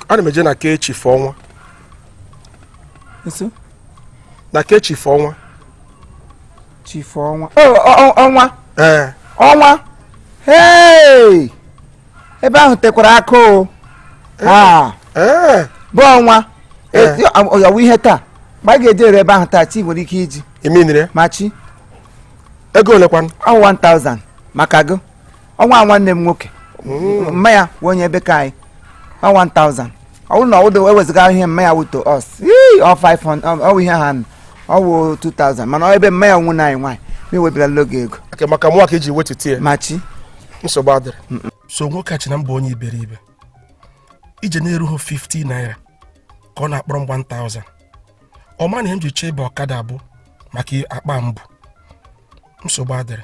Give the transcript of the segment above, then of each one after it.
ana m eje na ke chifu ọnwa nso na ke chifu ọnwa chifu ọnwa Oh, ọ- ọ- ọnwa ee ọnwa hey ebe ahụ tekwara aka o Ah, ee bụ ọnwa Eh. Eti- ọ- ọ- ọ wụ ihe taa ma a ga-ejeru ebe ahụ taa chi nwere ike iji iminire ma chi ego olekwanụ ọ 1000 maka gị ọnwa a nwanne m nwoke mma ya wụ onye ebe ka anyị ọ 1000 ọ bụrụ na ọ wụdo ewezụga ihe mma ya wụ to us ii, ọ 500 ọ- ọ wụ ihe ha nụ, ọ wụ 2000 mana ọ ebe mma ya wụ nwa anyị nwaanyị m ewebilara gị ego ọkwa maka mụ ka e ji wetutụ ya ma chi nsogbu adịrị so nwoke a che na m bụ onye iberibe ije na-erughị 50 naira ka ọ na-akpọrọ m 1000 ọ ma na ihe m ji chọọ ịba ọkada bụ maka akpa m bu nsogbu adịrị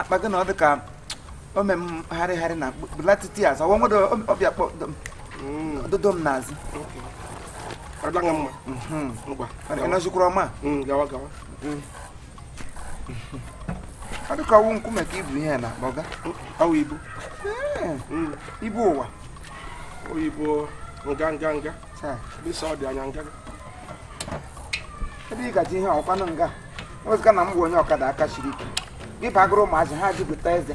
akpa gị na ọ dị ka ome m harịgharị na bulatụtụ azụ ọwa nwere ọ bịa kpọdodo m n'azụ ọ dịla mma mhm. ngwa ị nọzikwara ọma mm, gawa gawa mm. ọ dị ka ọ wụ nkume ka i bu ihe n'akpa ọga ọ wụ ibu mm. ibu ụwa oyibo nga nga nga ebe ị gaji ihe ọkwanụ nga ewezụga na m bụ onye ọkada aka siri ike gị bagoro ụmụazị ha jupụta ezi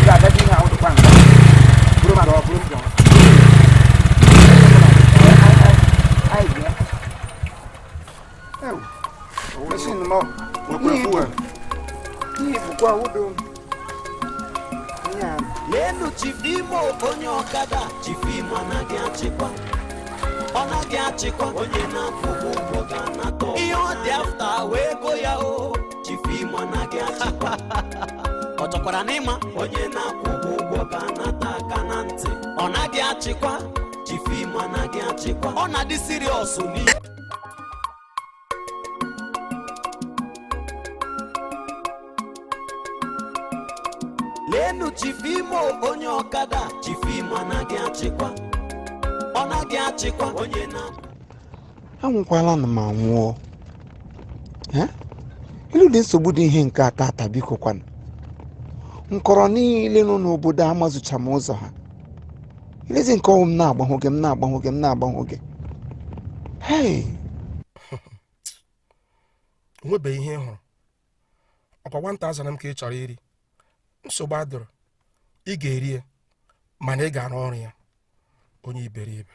ga-agaji ihe ahụ dịkwa nga bụrụ mara ọ bụrụ mbọ lenụ chifu Imo onye ọkada chifu Imo anaghị achịkwa ọ naghị achịkwa onye na-akwụ ụgwọ ga-anata ihe ọ dị after wee go ya o chifu Imo anaghị achịkwa ọ chọkwara n'ịma onye na-akwụ ụgwọ ga-anata aka na ntị ọ naghị achịkwa chifu Imo anaghị achịkwa ọ na-adị serious n'ihe lenụ chifu Imo onye ọkada chifu Imo anaghị achịkwa ọ naghị achịkwa onye na anwụkwala nụ m anwụọ Eh? ilu dị nsogbu dị ihe nke a taa taa biko kwanụ nkọrọ niile nọ n'obodo amazucha m ụzọ ha i lezie nke ọ wụ m na-agbanwụ gị m na-agbanwụ gị m na-agbanwụ gị hei o nwebeghị ihe ị hụrụ ọkwa 1000 m ka ị chọrọ iri nsogbu adịrọ ị ga-eri ya mana ị ga-arụ ọrụ ya onye iberibe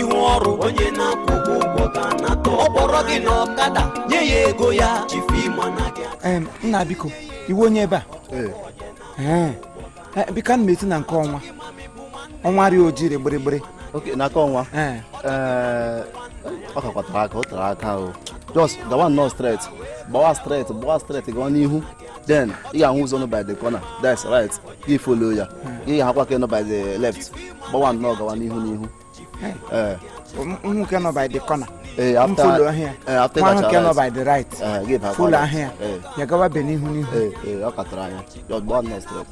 ihu ọrụ onye na-akwụ ụgwọ ụgwọ ga-anata ọ kpọrọ gị n'ọkada nye ya ego ya chief m anaghị Em, nna biko ị wụ onye ebe a Ee. Eh, biko ana m eti na nke ọnwa ọnwa rị oji rị gbịrịgbịrị oke n'aka ọnwa Ee. ee ọ kakwa tere aka o tere aka o just gawa nnọọ straight gbawa straight gbawa straight gawa n'ihu then ị ga-ahụ ụzọ nọ by the corner that's right gị follow ya gị ga-ahụkwa nke nọ by the left gbawa nnọọ gawa n'ihu n'ihu nwoke nọ by the corner follow ahịa nwa nwoke nọ by the right follow ahịa ya gawa be n'ihu n'ihu ọ ka tere anya gbawa nnọọ straight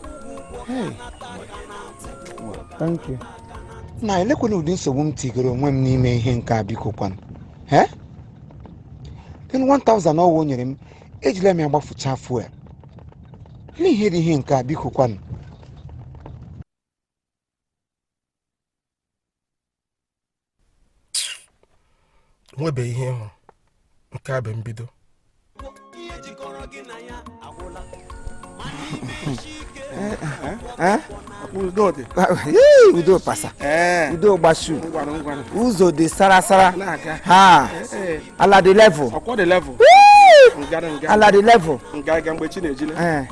thank you na elekwana ụdị nsogbu m tigoro onwe m n'ime ihe nke a biko kwanụ ee then 1000 ọwa o nyere m ejila m ya gbafucha fuel n'ihe dị ihe nke a biko kwanụ nwebe ihe ị hụ nke a bụ mbido udo pasa udo gbasu ụzọ dị sarasara ha ala dị level ala dị level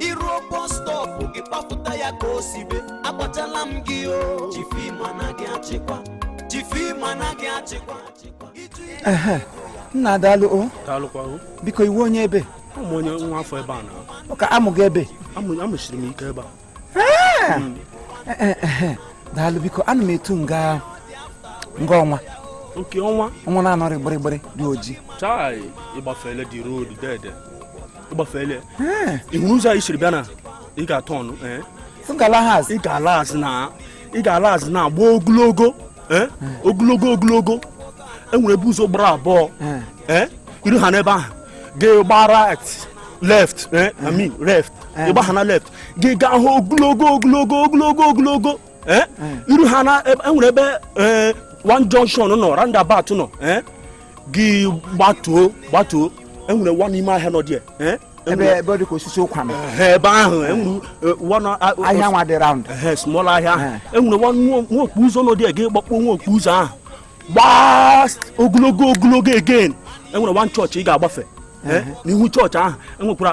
i ruo bus stop gị kpapụta ya ka o sibe agwachala m gị o chief m anaghị achịkwa chief m anaghị achịkwa ehe nna daalụ o daalụkwa o biko ị wụ onye ebe a m wụ onye nwa afọ ebe a na ọ ka a mụ gị ebe a mụsiri m ike ebe a daalụ biko ana m etu nga nga ọnwa nke ọnwa ọnwa na-anọrị gbịrịgbịrị dị oji chai ị gbafele the road dede ị gbafele ị hụ ụzọ anyị siri bịa na ị ga-aturn eh? ị ga-ala azụ ị ga-ala azụ na ị ga-ala azụ na-agba ogologo eh? ogologo ogologo enwere ebe ụzọ gbara abụọ eh? i ruhana ebe ahụ gị gba right eh? I mean left ị gbahana left gị gaha ogologo ogologo ogologo ogologo eh? hmm. i ruhana enwere ebe eh, one junction nọ roundabout nọ eh? gị gbatuo gbatuo enwere one ime ahịa nọ dị ebe ebe dị ka osisi ụkwa nọ ebe ahụ enwere ahịa nwa dị round small ahịa enwere nwa okpo ụzọ nọ dị gị gbakpo nwa okpo ụzọ ahụ gbaa ogologo ogologo again enwere one church ị ga-agbafe n'ihu church ahụ enwekwara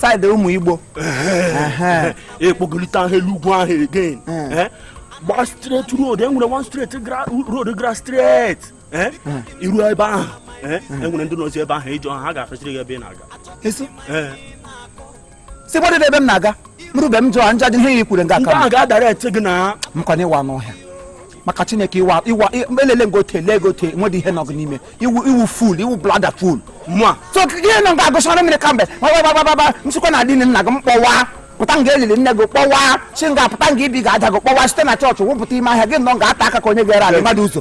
side ụmụ igbo ị gbagolite ha elu ugwu ahụ again eh? gba straight road enwere one straight road gara straight eh? i ru ebe ahụ eh? enwere ndị nọzi ebe ahụ ị jụọ ha ga-afesịrị gị ebe ị na-aga si gbadị ebe m na-aga m rube m jụọ nja dị ihe i kwuru nga aka m ga-adara ete gị na m kwana ịwa n'ọhịa maka chineke iwa iwa elele ngote lee gote nwedị ihe nọ gị n'ime ị wụ ị wụ fool ị wụ bloody fool mụa so ihe nọ ga-agụsara mmiri kamgbe gbagbagbagbagba nsịkwa na adịghị nna gị m kpọwa pụta nga elili nne gị kpọwa si nga pụta nga ibi ga-aja gị kpọwa site na chọọchị wụpụta ime ahịa gị nọ ga-ata aka ka onye ga-ere ala mmadụ ọzọ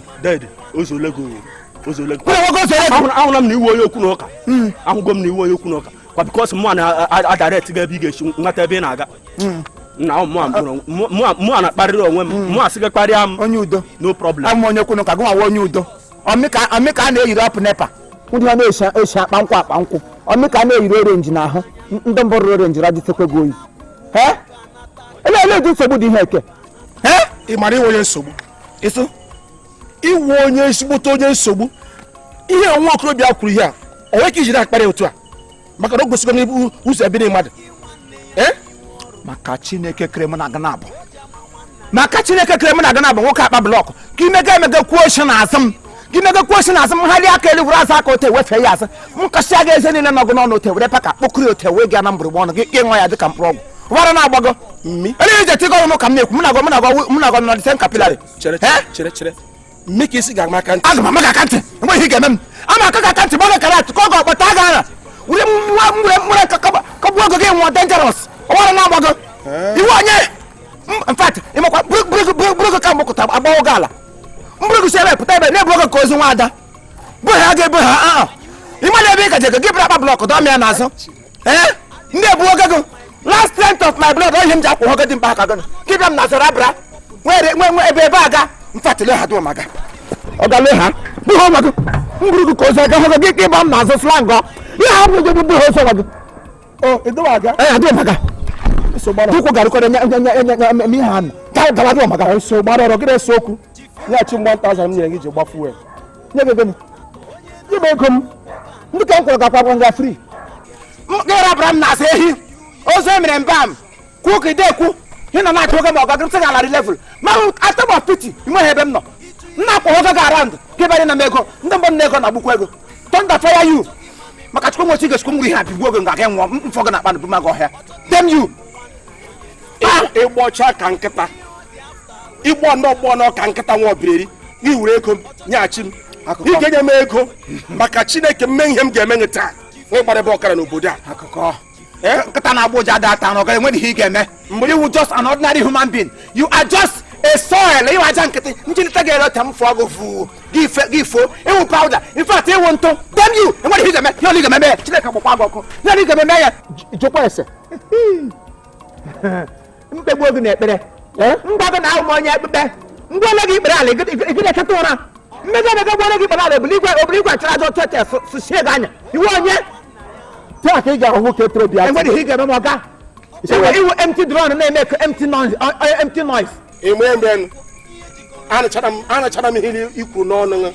ahụla m na ị wụ onye okwu na ụka hmm. ahụgo m na ị wụ onye okwu na ụka kwa because mụ na-adirect gị ebe ị ga-esi nweta ebe ị na-aga hmm. na mụa na-akparịrị onwe m mụa sị gị kparịa m onye udo no problem abụ m onye kwunu ka gị nwa onye udo ọmịka a na-eyiri up NEPA ndị ha na-esi akpa nkwụ akpa nkwụ ọmịka a na-eyiri orenji n'ahụ ndị mbụ rụrụ orenji radịtekwe gị oyi ele ele dị nsogbu dị ihe eke ị mara ị wụ onye nsogbu ịsụ ị wụ onye ezigbote onye nsogbu ihe nwa okorobịa kwuru ihe a o nwere ka ijiri akparị otu a maka na o gosigo n'ibu ụzọ ebiri mmadụ eh? maka chineke kere m na aga na-abụ maka chineke kere m na aga na-abụ nwoke akpa blọkụ ka imega emega kwuo oshi na azụ m ka imega kwuo oshi na azụ m ha aka elu were azụ aka ote wefee ya azụ m kasịa gị eze niile nọ gị n'ọnụ ote were paka kpokiri ote wee gaa na mgbụrụgba ọnụ gị ị ṅụọ ya dịka mkpụrụ ọgwụ ọbara na-agbago elu ije tigọ ọnụ ka m na-ekwu m na-agọ m na-agọ m na-agọ nọdịsen kapilari chere chere chere mme ka ị sị ị ga-ama aka ntị aga m ama gị aka ntị enweghị ihe ga-eme m ama aka gị aka ntị ma ọ gara atụ ka ọ ga ọkpata aga ara were nwa nwere nwere kụgbuo gị gị nwụọ dangerous ọbara na-agbago ị wụ onye in fact ị makwa buru gị ka mgbe kụta agbawo gị ala m buru gị si ebe pụta ebe na-ebu gị ka ozu nwa ada bụ ha ga-ebu ha aa ị mana ebe ị ga-eje gị buru akpa blọkụ dọ mụa n'azụ ee ndị ebuo gago last strength of my blood oyihe m ji akwụ nwoke dị mkpa aka gị kịbịa m na zara abara nwere nwe nwe ebe ebe aga mfatile ha dụọ maga ọgale ha bụghị ọnwa gị m buru gị ka ozu aga hụgo gị ka ịgba m n'azụ slangọ ihe ha bụrụ gị bụghị ozu ọnwa gị ee adụọ maga ụkwụ garịkọrọ nye nye nye nye nye ihe ha nọ gawa dụọ maga so gbara ọrụ gị na-ese okwu nyeghachi m 1000 m nyere gị ji gba fuel nye gị ego m nye m ego m ndị ka m kwụrụ gakwa gwa nga fri gịrabara m na-asa ehi ozu emere mba m kwuo ka ide ekwu ị nọ na-achọ oge ma ọga gịrịsị ga larị level ma atom of pity nweghị ebe m nọ m na-akwa oge ga around gị banye na m ego ndị mgbe m na ego na agbukwa ego thunder fire you maka chukwu nwechi gechukwu ngwuri ha bigbuo gị nga gị nwụọ mmụọ gị na-akpa na buma gị ọhịa damn you ị gbọcha ka nkịta ị gbọ ndị ọgbọ ọnụ ka nkịta nwa ọbireri gị were ego m nyeghachi m ị ga-enye m ego maka chineke m mee ihe m ga-eme gị taa nwe gbara ebe ọkara n'obodo a eh? nkịta na-agbọ ụja ada ata ọ gaghị enwe ihe ị ga-eme mgbe ị wụ just an ordinary human being you are just a soil ị wụ aja nkịtị njilite ga-ere ọta m fụọ gị fụ gị fo ị wụ powder in fact ị wụ ntụ damn you o nwere ihe ị ga-eme ihe ole ị ga-eme ya chineke gbakwa gị ọkụ ihe ole ị ga-eme ya jụkwa ese m kpegbuo gị n'ekpere m gwa gị na awụ m onye ekpukpe ngwa ole gị ikpere ala gị na-echeta ụra mmega emega gwa ole gị ikpere ala obulu igwe obulu igwe achara aja otu etes sụchie gị anya ị wụ onye taa ka ị ga-ahụ nwoke toro bịa enwere ihe ị ga-eme m ọkwa ị wụ empty drum na-eme ka empty noise empty noise eme mgbe anachara m ihe i kwu n'ọnụ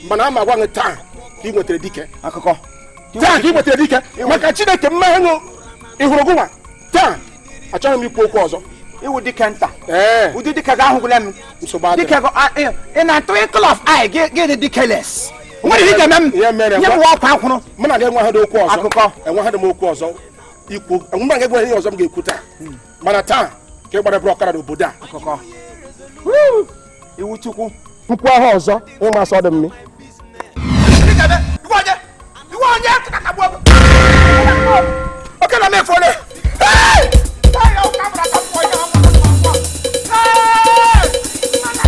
mana ama gwa gị taa ka ị nwetara dike akụkọ taa ka ị nwetara dike maka chineke mmehie ṅụ ịhụrụ gụnwa taa achọghị m ikwu okwu ọzọ ị wụ dike nta ụdị dike gị ahụgwụla m dike in a twinkle of an eye gị dị dikeless nwere ihe ị ga-eme m nye m ọkwa akwụrụ mụ na gị enweghị okwu ọzọ akụkọ enweghị m okwu ọzọ ikwu mụ na gị enweghị ihe ọzọ m ga-ekwu taa hmm. mana taa ka ị gbara bụrụ ọkara n'obodo a ị wụ chukwu mkpu ahụ ọzọ ị ma sị ọdụ mmiri oke na mefu ole